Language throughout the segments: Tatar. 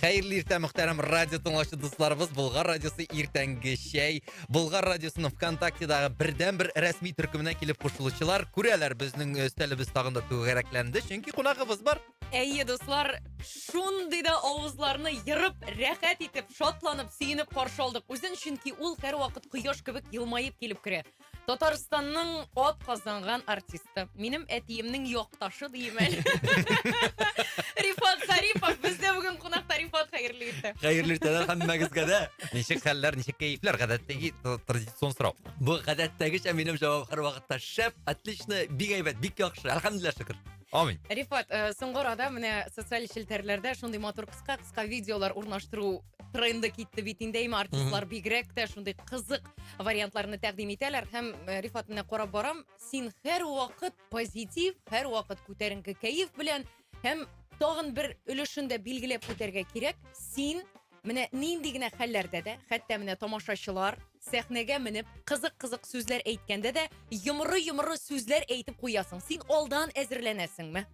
Хәерле иртә, мөхтәрәм радио тыңлаучы дусларыбыз. Булгар радиосы иртәнге чәй. Булгар радиосының ВКонтактедагы бердән бер рәсми төркеменә килеп кушылучылар күрәләр, безнең өстәлебез тагын да түгәрәкләнде, чөнки кунагыбыз бар. Әйе, дуслар, шундый да авызларны ерып, рәхәт итеп, шатланып, сөенеп каршы алдык үзен, чөнки ул һәрвакыт кояш кебек елмаеп килеп керә. Татарстанның ат казанган артисты. Минем әтиемнең якташы дим әле. Рифат Зарипов бездә бүген кунакта Рифат хәерле иртә. Хәерле иртәләр һәммәгезгә дә. Ничек хәлләр, ничек кәефләр? Гадәттәге тр- традицион сорау. Бу гадәттәгечә минем җавап һәрвакытта шәп, отлично, бик әйбәт, бик яхшы. Әлхәмдулилла шөкер. Амин. Рифат, э, соңгы арада менә социаль челтәрләрдә шундый матур кыска-кыска видеолар урнаштыру тренды китте бит инде әйме артистлар бигрәк тә шундый кызык вариантларны тәкъдим итәләр һәм э, рифат менә карап барам син һәр вакыт позитив һәр вакыт күтәренке кәеф белән һәм тагын бер өлешен дә билгеләп үтәргә кирәк син менә нинди генә хәлләрдә дә хәтта менә тамашачылар Сәхнәгә менеп, кызык-кызык сүзләр әйткәндә дә, йомры-йомры сүзләр әйтеп куясың. Син алдан әзерләнәсеңме?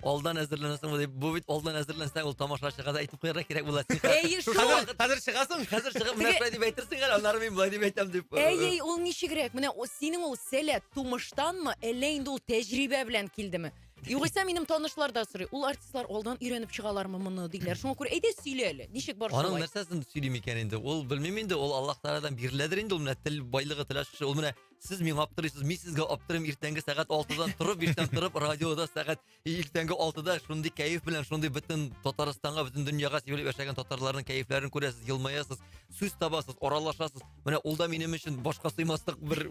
алдан әзерләнәсеңме дип, бу бит алдан әзерләнсәң, ул тамашачыга да әйтеп куярга кирәк була. Әйе, шул. Хәзер, хәзер чыгасың, хәзер чыгып, менә шулай дип әйтерсең әле, аннары мин болай дип әйтәм дип. Әй, әй, ул ничегрәк? Менә синең ул сәләт тумыштанмы, әллә инде ул тәҗрибә белән килдеме? Югыйсә минем танышлар да сорый, ул артистлар алдан өйрәнеп чыгалармы моны диләр. Шуңа күрә әйдә сөйлә әле, ничек бар шулай? Аның нәрсәсен сөйлим икән инде? Ул белмим инде, ул Аллаһ Тааладан биреләдер инде, ул менә тел байлыгы тел ачкычы. Ул менә сез миңа аптырыйсыз, мин сезгә аптырыйм, иртәнге сәгать 6-дан торып, иртән торып, радиода сәгать иртәнге 6-да шундый кәеф белән, шундый бөтен Татарстанга, бөтен дөньяга сибелеп яшәгән татарларның кәефләрен күрәсез, елмаясыз, сүз табасыз, аралашасыз. Менә ул да минем өчен башка сыймаслык бер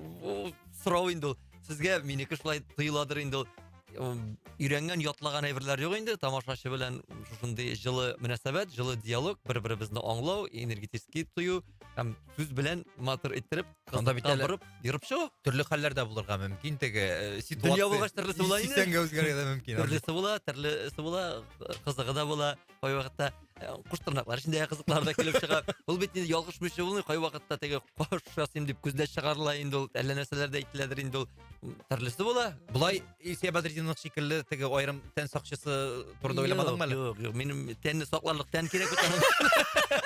сорау инде ул. Сезгә минеке шулай тоеладыр инде ул. Өйрәнгән, ятлаган әйберләр юк инде. Тамашачы белән шушындый җылы мөнәсәбәт, җылы диалог, бер-беребезне аңлау, энергетический тою һәм сүз белән матур иттереп, кызда бит әле борып, ерып чыгу. Төрле хәлләр дә булырга мөмкин теге э, ситуация. Дөнья булгач төрлесе була инде. Сисәнгә үзгәрергә дә мөмкин. Төрлесе була, төрлесе була, кызыгы да була. кай вакытта кош тырнаклар өчен дә кызыклар да килеп чыга ул бит инде ялгыш мөче булмый кай вакытта теге кош ясыйм дип күзләр чыгарыла инде ул әллә нәрсәләр дә әйтеләдер инде ул төрлесе була болай илсөя бәдретдинов шикелле теге аерым тән сакчысы турында уйламадыңмы әле юк юк минем тәнне сакларлык тән кирәк бит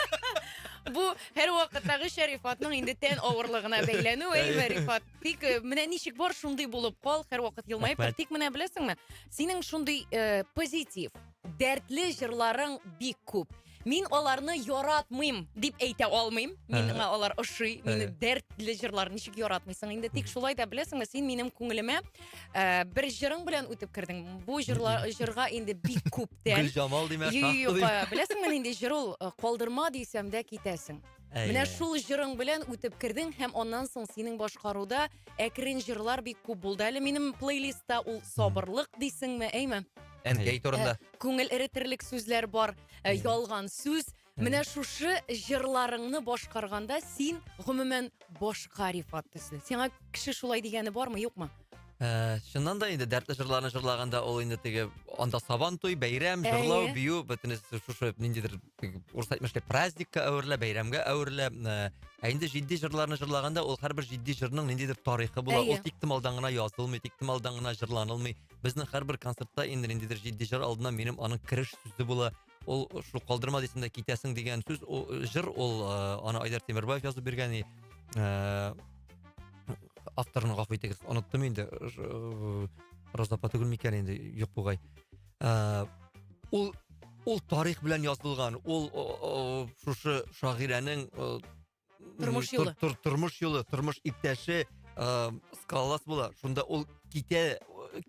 бу һәрвакыттагы шәрифатның инде тән авырлыгына бәйләнү әйме рифат тик э, менә ничек бар шундый булып кал һәрвакыт елмаеп тор тик менә беләсеңме синең шундый э, позитив Дәртле җырларың бик күп. Мин аларны яратмыйм дип әйтә алмыйм. Миңа алар ошый. Мине дәртле җырлар ничек яратмыйсың инде? Тик шулай да беләсеңме, син минем күңелемә э, бер җырың белән үтеп кердең. Бу җырла, җырга инде бик күптән. Гөлҗамал димә, Юк, шахты юк, димә. э, беләсеңме нинди җыр ул? Э, Калдырма дисәм дә китәсең. Әй. Менә шул җырың белән үтеп кердең һәм аннан соң синең башкаруда әкрен җырлар бик күп булды. Әле минем плейлистта ул сабырлык дисеңме, әйме? Әнкәй турында. Э, күңел эретерлек сүзләр бар, э, ялган сүз. Менә шушы җырларыңны башкарганда син гомумән башка Рифат төсле. Сиңа кеше шулай дигәне бармы, юкмы? Ә, чыннан да инде дәртле җырларны җырлаганда ул инде теге анда сабан туй, бәйрәм, җырлау, Әйе. бию, бөтенесе шушы ниндидер теге урысча әйтмешли праздникка әверелә, бәйрәмгә әверелә. Ә, Ә инде җитди җырларны җырлаганда ул һәрбер җитди җырның ниндидер тарихы була. Әйе. Ул тиктомалдан гына язылмый, тиктомалдан гына җырланылмый. Безнең һәрбер концертта инде ниндидер җитди җыр алдыннан минем аның кереш сүзе була. ул шул калдырма дисең дә китәсең дигән сүз ул җыр ул ыыы аны айдар темирбаев язып биргән и ыыы авторын гафу итегез оныттым инде роза апа түгелме икән инде юк бугай ыыы ул ул тарих белән язылган ул ыыы шушы шагыйрәнең ы Тормыш юлы. Тор, тормыш юлы, тормыш иптәше ә, скалолаз була. Шунда ул китә,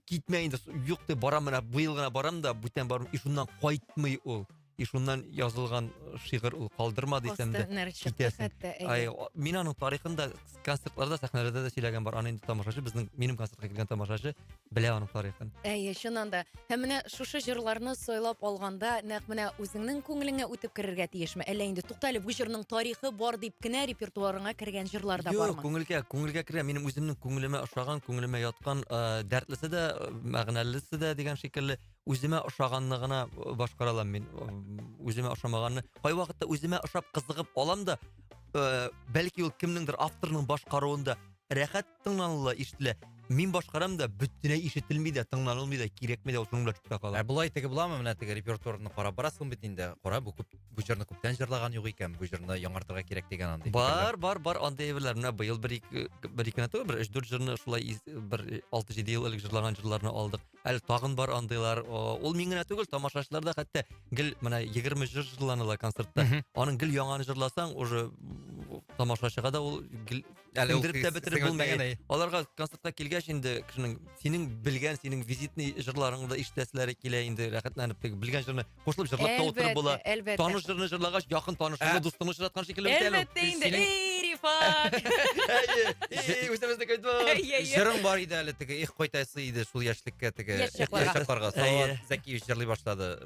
китмә инде, юк дип барам менә, быел гына барам да, бүтән барам, и шуннан кайтмый ул. И шуннан язылган э, шигырь ул калдырма дисәм дә. Китәсен. Ай, мин аның тарихында концертларда, сәхнәләрдә дә сөйләгән бар. Аны инде тамашачы, безнең, минем концертка килгән тамашачы, Белә аның тарихын. Әйе, чыннан да. Һәм менә шушы җырларны сайлап алганда, нәкъ менә үзеңнең күңелеңә үтеп керергә тиешме? Әллә инде туктале, бу җырның тарихы бар дип кенә репертуарыңа кергән җырлар да бармы? Юк, күңелгә, күңелгә керә. Минем үземнең күңелемә ошаган, күңелемә яткан, э, дәртлесе дә, э, мәгънәлесе дә дигән шикелле, үземә ошаганны гына э, башкара алам мин. Үземә ошамаганны. Кайвакытта үземә ошап кызыгып алам да, э, бәлки ул кемнеңдер авторның башкаруында рәхәт Тыңланыла, ишетелә. Мин башкарам да, бөтенләй ишетелми дә, тыңланылмый да, кирәкми дә, ул шуның белән чүпкә кала. Ә болай теге буламы, менә теге репертуарны карап барасың бит инде, кара, бу күп, бу җырны күптән җырлаган юк икән, бу җырны яңартырга кирәк дигән андый. Бар, бар, бар, андый әйберләр. Менә быел бер-ике, бер-ике генә түгел, бер өч-дүрт җырны шулай из, бер алты-җиде ел элек җырлаган җырларны алдык. Әле тагын бар андыйлар. О, ул мин генә түгел, тамашачылар да хәтта гел менә егерме җыр җырланыла концертта. Мгм. Аның гел яңаны җырласаң, уже тамашачыга да ул гел әле ул бетереп булмый аларга концертка килгәч инде кешенең синең белгән синең визитный җырларыңды ишетәселәре килә инде рәхәтләнеп теге белгән җырны кушылып җырлап та утырып була әлбәттә таныш җырны җырлагач якын танышыңны дустыңны очраткан шикелле бит әле әлбәттә инде эй рифат әйе үзебезнеке җырың бар иде әле теге их кайтасы иде шул яшьлеккә теге яшь чакларга салават зәкиев җырлый башлады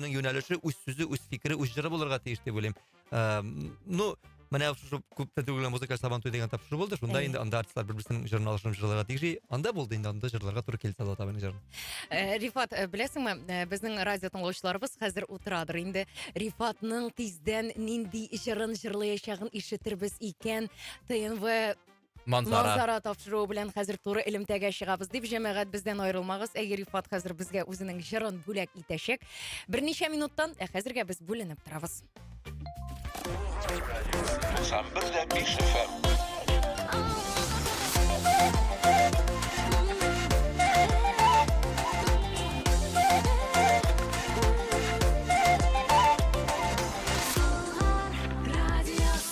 кешенең юнәлеше үз сүзе үз фикере үз жыры булырга тиеш дип уйлыйм ыыы ну менә шушы күп тә түгел музыкаль сабан туй деген тапшыру булды шунда инде анда артистлар бер берсенең жырын алышып жырларга тиеш анда булды инде анда жырларга туры килде алла тагала жырын э, рифат э, беләсеңме э, безнең радио тыңлаучыларыбыз хәзер утырадыр инде рифатның тиздән нинди жырын жырлаячагын ишетербез икән тнв Манзара. Манзара тапшыруы белән хәзер туры элемтәгә чыгабыз дип, җәмәгать бездән аерылмагыз. Әйе, Рифат хәзер безгә үзенең җырын бүләк итәчәк. Берничә минуттан, ә хәзергә без бүленеп торабыз. 91 дә 5 FM.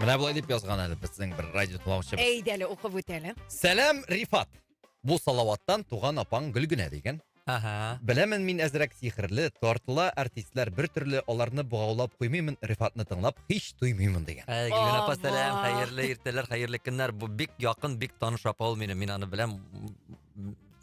Менә болай дип язган әле безнең бер радио тыңлаучыбыз. Әйдә әле укып үт әле. Сәлам, Рифат. Бу Салаваттан туган апаң Гөлгенә дигән. Ага. Беләмен мин әзрәк сихерле, тартыла артистлар бер төрле, аларны богаулап куймыймын, Рифатны тыңлап һич туймыймын дигән. Ә, Гөлгенә апа, сәлам, хәерле иртәләр, хәерле көннәр. Бу бик якын, бик таныш апа ул минем, мин аны беләм.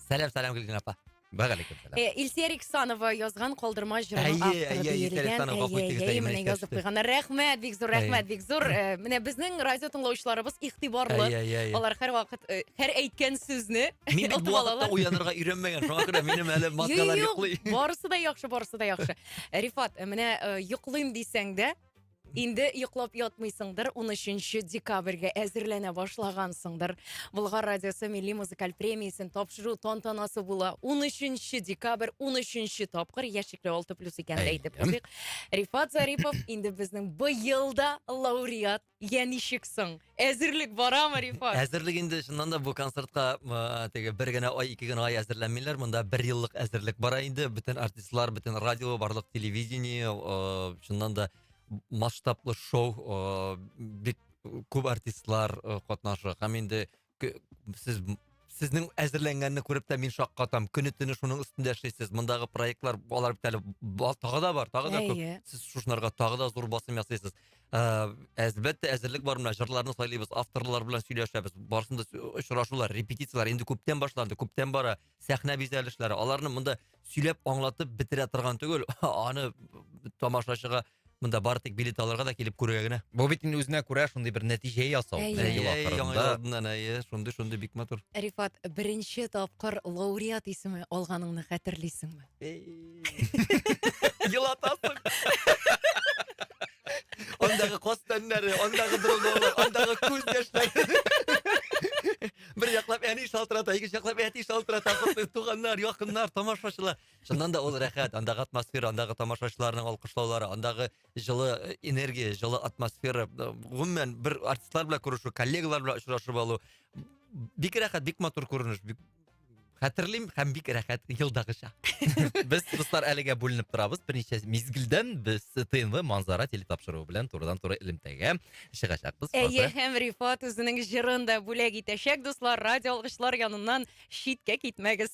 Сәлам, сәлам, Гөлгенә апа. Вәгалейкум сәлам. Э, Илсия Риксанова язган калдырма җырының Әйе, авторы әйе, Илсия диелгән. Риксанова, гафу Әйе, итегез, әйе, әйе, менә менә язып искә куйганнар. Рәхмәт, бик зур рәхмәт, Әйе. бик зур. Э, Менә безнең радио тыңлаучыларыбыз игътибарлы. Әйе, әйе, әйе. Алар һәрвакыт э, һәр әйткән сүзне Мин бит отып бу вакытта алалар. уянырга өйрәнмәгән, шуңа күрә минем әле маскалар Юк, йоклый. барысы да яхшы, барысы да яхшы. Рифат, э, менә э, йоклыйм дисәң дә, Инде йоклап ятмыйсыңдыр, 13 декабрьгә әзерләнә башлагансыңдыр. Болгар радиосы милли музыкаль премиясен тапшыру тантанасы була. 13 декабрь, 13 тапкыр яшикле 6 плюс икән дә әйтеп Әйдәм. куйыйк. Рифат Зарипов инде безнең быел да лауреат. Я ничек соң? Әзерлек барамы, Рифат? Әзерлек инде чыннан да бу концертка теге бер генә ай, ике генә ай әзерләнмиләр. Монда бер еллык әзерлек бара инде. Бөтен артистлар, бөтен радио, барлык телевидение, чыннан да масштаблы шоу, бик күп артистлар катнашы. Һәм инде сез сезнең әзерләнгәнне күреп тә мин шаккатам. Көне төне шуның өстендә эшлисез. Мондагы проектлар алар бит әле тагы да бар, тагы да күп. Сез шушынарга тагы да зур басым ясыйсыз. әлбәттә әзерлек бар менә жырларны сайлыйбыз авторлар белән сөйләшәбез барысын да очрашулар репетицияләр инде күптән башланды күптән бара сәхнә бизәлешләре аларны монда сөйләп аңлатып бетерә торган түгел аны тамашачыга монда бары тик билет алырга да килеп күрергә генә бу бит инде үзенә күрә шундый бер нәтиҗә ясау әйе шундый шундый бик матур рифат беренче тапкыр лауреат исеме алганыңны хәтерлисеңме Елатасың. Андагы кос тәннәре, андагы дроналар, андагы күз яшьләре. Бер яклап әни шалтырата, икенче яклап әти шалтырата, туганнар, якыннар, тамашачылар. Чыннан да ул рәхәт, андагы атмосфера, андагы тамашачыларның алкышлаулары, андагы җылы э, энергия, җылы атмосфера. Э, гомумән, бер артистлар белән күрешү, коллегалар белән очрашып алу. Бик рәхәт, бик матур күренеш, бик хәтерлим һәм бик рәхәт елдагыча без дуслар әлегә бүленеп торабыз берничә мизгелдән без тнв манзара телетапшыруы белән турыдан туры элемтәгә чыгачакбыз әйе һәм рифат үзенең җырын да бүләк итәчәк дуслар радио алгычлар яныннан читкә китмәгез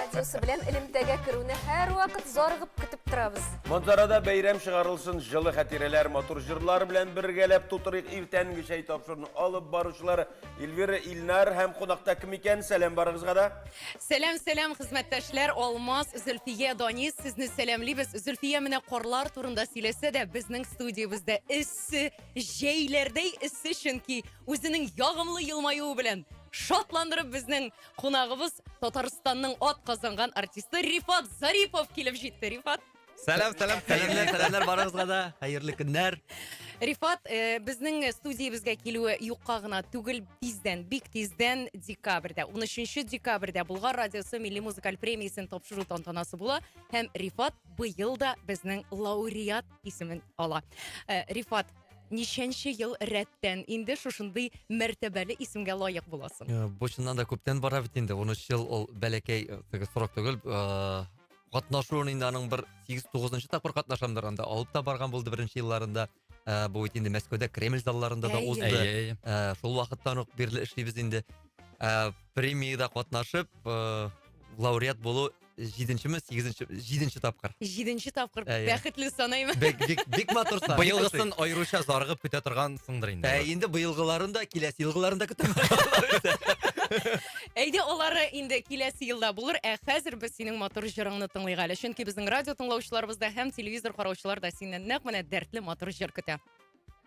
Радиосы белән элемтәгә керүне һәрвакыт зарыгып көтеп торабыз. Манзарада бәйрәм чыгарылсын, җылы хәтирәләр, матур җырлар белән бергәләп тутырыйк иртәнге чәй тапшыруны алып баручылар Эльвира Илнар һәм кунакта кем икән? Сәлам барыгызга да. Сәлам, сәлам, хезмәттәшләр, Алмаз, Зөлфия, Данис, сезне сәламлибез. Зөлфия менә карлар турында сөйләсә дә, безнең студиябездә эссе, җәйләрдәй эссе, чөнки үзенең ягымлы елмаюы белән шатландырып безнең Кунагыбыз Татарстанның ат казанган артисты Рифат Зарипов килеп җитте. Рифат, Сәлам, сәлам, сәламнәр, сәламнәр барыгызга да. Хәерле көннәр. Рифат, э, безнең студиябезгә килүе юкка гына түгел, тиздән, бик тиздән декабрьдә, 13 декабрьдә Болгар радиосы милли музыкаль премиясен тапшыру тантанасы була һәм Рифат быел да безнең лауреат исемен ала. Э, Рифат, ничәнче ел рәттән инде шушындый мәртәбәле исемгә лаек буласың? Э, бу чыннан да күптән бара бит инде. 13 ел ул бәләкәй э, теге срок түгел. Э, катнашуын инде аның бер 8-9 тапкыр катнашамдыр анда. Алып та барган булды беренче елларында. Ә, бу бит инде Мәскәүдә Кремль залларында да узды. Ә, шул вакыттан ук бирле эшлибез инде. Ә, премиядә катнашып, ә, лауреат булу җиденче ме сигезенче җиденче тапкыр җиденче тапкыр ә, иә. бәхетле санаймын бик, бик, бик матур сан быелгысын аеруча зарыгып көтә торгансыңдыр инде ә, инде быелгыларын да киләсе елгыларын да көтәм әйдә алары инде киләсе елда булыр ә хәзер без синең матур җырыңны тыңлыйк әле чөнки безнең радио тыңлаучыларыбыз да һәм телевизор караучылар да синнән нәкъ менә дәртле матур җыр көтә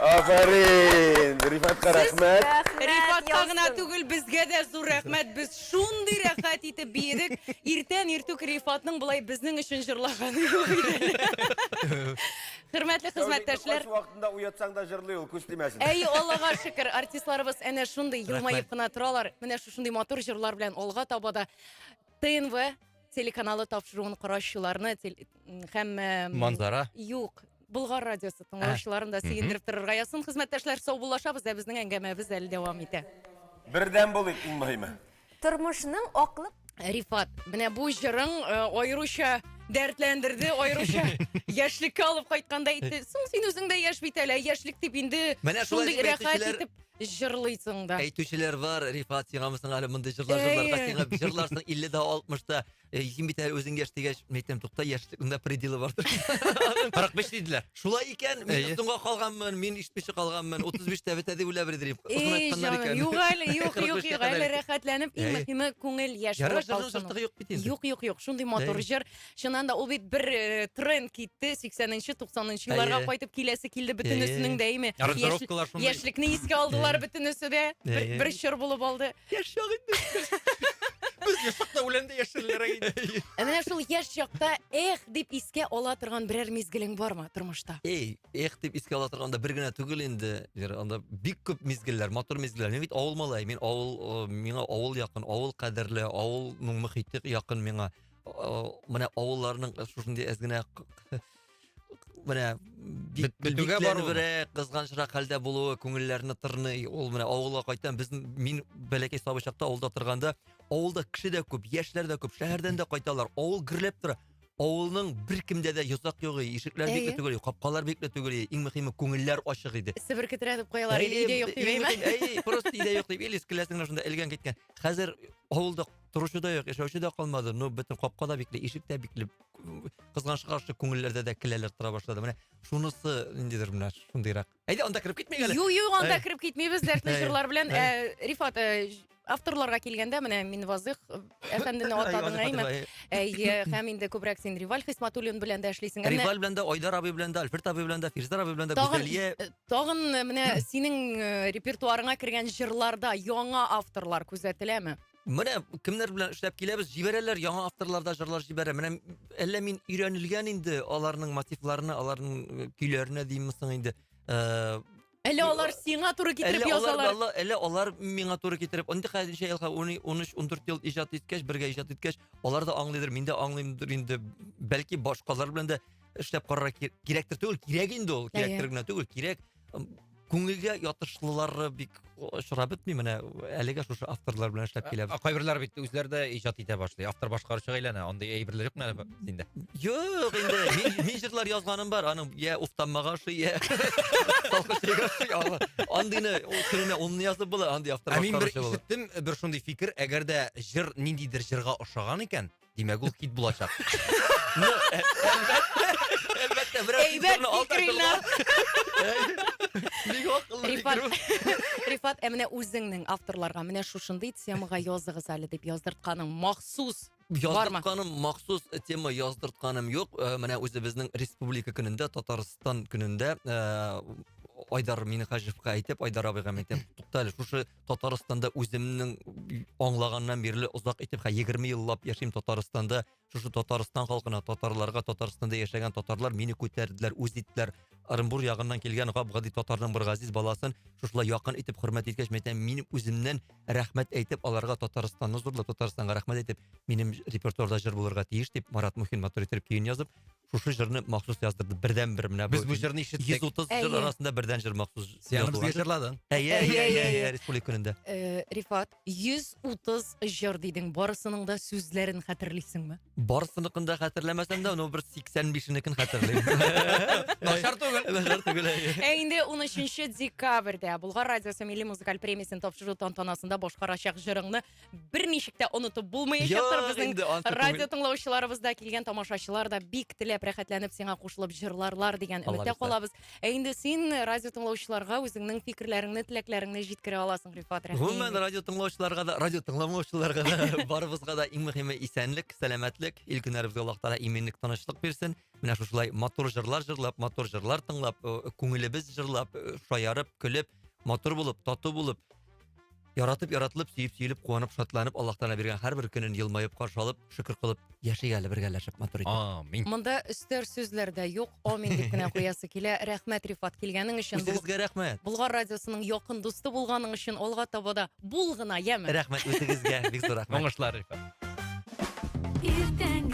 Афәрин! Рифатка рәхмәт. Рифатка гына түгел, безгә дә зур рәхмәт. Без шундый рәхәт итеп биедек. Иртән иртүк Рифатның былай безнең өчен җырлаганы юк иде. Хөрмәтле хезмәттәшләр. Кайсы вакытында уятсаң да җырлый ул, күз тимәсен. Әй, Аллага шөкер, артистларыбыз әнә шундый елмаеп кына торалар. Менә шушындый матур җырлар белән алга таба да ТНВ телеканалы тапшыруын караучыларны тел- м, һәм э, м, Манзара. Юк. Болгар радиосы тыңлаучыларын да сөендереп торырга язсын. Хезмәттәшләр, саубуллашабыз, ә безнең әңгәмәбез әле дәвам итә. Бердәм булыйк иң мөһиме. Тормышның аклык Рифат, менә бу җырың э, аеруча дәртләндерде, аеруча яшьлеккә алып кайткандай итте. Соң син үзең дә яшь бит әле, яшьлек дип инде Менә шулай шундый дип рәхәт әйтүчеләр- итеп җырлыйсың да. Әйтүчеләр бар, Рифат, сиңамы соң әле мондый җырлар җырларга, Әйе. сиңа җырларсың 50 дә 60 та. Э, Син бит әле үзең яшь дигәч, мин әйтәм, тукта, яшьлекнең дә пределы бардыр. 45 диделәр. Шулай икән, мин Әйе. соңга калганмын, мин ишетмичә калганмын. 35 тә бетә дип уйлап бирдем. Озын Эй, айтканнар җаным, икән. юк әле, юк, 45 юк, тә юк, кадәр әле икән. рәхәтләнеп, иң Әйе. мөхиме күңел яшь Ярар, булып җырның калсын. җыртыгы юк бит инде. Юк, юк, юк, шундый матур Әйе. җыр. Чыннан да ул бит бер э, тренд китте 80-нче, 90-нчы елларга Әйе. кайтып киләсе килде Әйе. бөтенесенең дә име? Яшь- Аранжировкалар шундый. Яшьлекне искә алдылар Әйе. бөтенесе дә. Бер, Әйе. бер чор булып алды. Яшь чак инде. Без яшь чакта үләндә яшьләр иде. Ә менә шул яшь чакта эх дип искә ала торган берәр мизгелең бармы тормышта? Эй, эх дип искә ала торганда бер генә түгел инде. Вера, Анда бик күп мизгелләр, матур мизгелләр. Мин бит авыл малае, мин авыл, э, миңа авыл якын, авыл кадерле, авылның мөхите якын миңа. менә авылларның шушындый әз генә менә бетүгә баруы кызганычрак хәлдә булуы күңелләрне тырный ул менә авылга кайтам без мин бәләкәй сабый чакта авылда торганда авылда кеше дә күп яшьләр дә күп шәһәрдән дә кайталар авыл гөрләп тора авылның беркемдә дә йозак юк иде ишекләр бикле түгел иде капкалар бикле түгел иде иң мөһиме күңелләр ачык иде себер кетерәтеп куялар иде өйдә юк дип әйме просто өйдә юк дип или келәсеңне шунда элгән киткән хәзер авылда торучы да юк яшәүче дә калмады но бөтен капка да бикле ишек тә бикле кызганычка каршы күңелләрдә дә келәләр тора башлады менә шунысы ниндидер менә шундыйрак әйдә анда кереп китмик әле юк юк анда кереп китмибез дәртле җырлар белән рифат авторларга килгәндә менә мин вазыйх әфәндене атадың әйме әйе һәм инде күбрәк син риваль хисматуллин белән дә эшлисең риваль белән дә айдар абый белән дә альфред абый белән дә фирзар абый белән дә гүзәлия э, тагын э, менә синең э, репертуарыңа кергән җырларда яңа авторлар күзәтеләме Менә кемнәр белән эшләп киләбез, җибәрәләр, яңа авторлар да җырлар җибәрә. Менә әллә мин өйрәнелгән инде аларның мотивларына, аларның э, көйләренә димме соң инде. Э, әллә алар сиңа туры китереп язалар? Әллә, әллә алар миңа туры китереп. Инде хәзерчә елга 13-14 ел иҗат иткәч, бергә иҗат иткәч, алар да аңлыйдыр, мин дә аңлыймдыр инде. Бәлки башкалар белән дә эшләп карарга кирәктер түгел, кирәк инде ул, кирәктер генә түгел, кирәк. күңелгә ятышлылары бик очрап бетми менә әлегә шушы авторлар белән эшләп киләбез ә кайберләре бит үзләре дә иҗат итә башлый автор башкаручыга әйләнә андый әйберләр юкмы әле синдә юк инде мин җырлар язганым бар аның я уфтанмага ошый я андыйны түренә онны язып була андый автор ә мин бер ишеттем бер шундый фикер әгәр дә җыр ниндидер җырга ошаган икән Димәк, ул хит булачак. Ну, э, әлбәттә, берәр Әйбәт фикерне алда фикерләр. Бик акыллы фикер Рифат, бу. Рифат, ә менә үзеңнең авторларга менә шушындый темага языгыз әле дип яздыртканың махсус бармы? Яздыртканым махсус тема яздыртканым юк. Э, Менә үзебезнең республика көнендә, Татарстан көнендә э, Айдар Минехаҗевка әйтеп, Айдар абыйга әйтеп, туктале, шушы Татарстанда үземнең аңлаганнан бирле озак итеп, хә 20 еллап яшим Татарстанда. Шушы Татарстан халкына, татарларга, Татарстанда яшәгән татарлар мине күтәрделәр, үз иттеләр. Ырымбур ягыннан килгән гап-гади татарның бер газиз баласын шушылай якын итеп хөрмәт иткәч, мәйтәм, мин үземнән рәхмәт әйтеп, аларга Татарстанны зурлап, Татарстанга рәхмәт әйтеп, минем репертуарда җыр булырга тиеш дип, Марат Мухин матур итеп көен язып, шушы җырны махсус яздырды бердән бер менә без бу җырны ишеттек йөз утыз җыр арасында бердән җыр махсус яныбызга җырладың әйе әйе республика көнендә э, рифат йөз утыз җыр дидең барысының да сүзләрен хәтерлисеңме барысыныкын да хәтерләмәсәм дә ну бер сиксән бишенекен хәтерлим начар түгел начар түгел ә инде унөченче декабрьдә булгар радиосы милли музыкаль премиясен тапшыру тантанасында башкарачак җырыңны бер ничек тә онытып булмаячактыр Йо, безнең инде ансыз радио тыңлаучыларыбыз да килгән тамашачылар да бик теләп рәхәтләнеп сиңа кушылып җырларлар дигән Алла өметтә бирсә. калабыз ә инде син радио тыңлаучыларга үзеңнең фикерләреңне теләкләреңне җиткерә аласың рифат рәхим Гомумән, радио тыңлаучыларга да, радио тыңламаучыларга да, барыбызга да иң мөһиме исәнлек, сәламәтлек, ил көннәребезгә Аллаһ Тәгалә иминлек, тынычлык бирсен. Менә шушылай матур җырлар җырлап, матур җырлар тыңлап, э, күңелебез җырлап, э, шаярып, көлеп, матур булып, тату булып, яратып яратылып сөеп сөелеп куанып шатланып аллаһ тағала биргән һәрбір көнен елмаеп каршы алып шөкер кылып яшик әле бергәләшеп матур итеп амин монда өстәр сүзләр дә юк амин дип кенә куясы килә рәхмәт рифат килгәнең өчен үзегезгә рәхмәт болгар радиосының якын дусты булганың өчен алга таба да бул гына яме рәхмәт үзегезгә бик зур рәхмәт уңышлар рифат иртәнге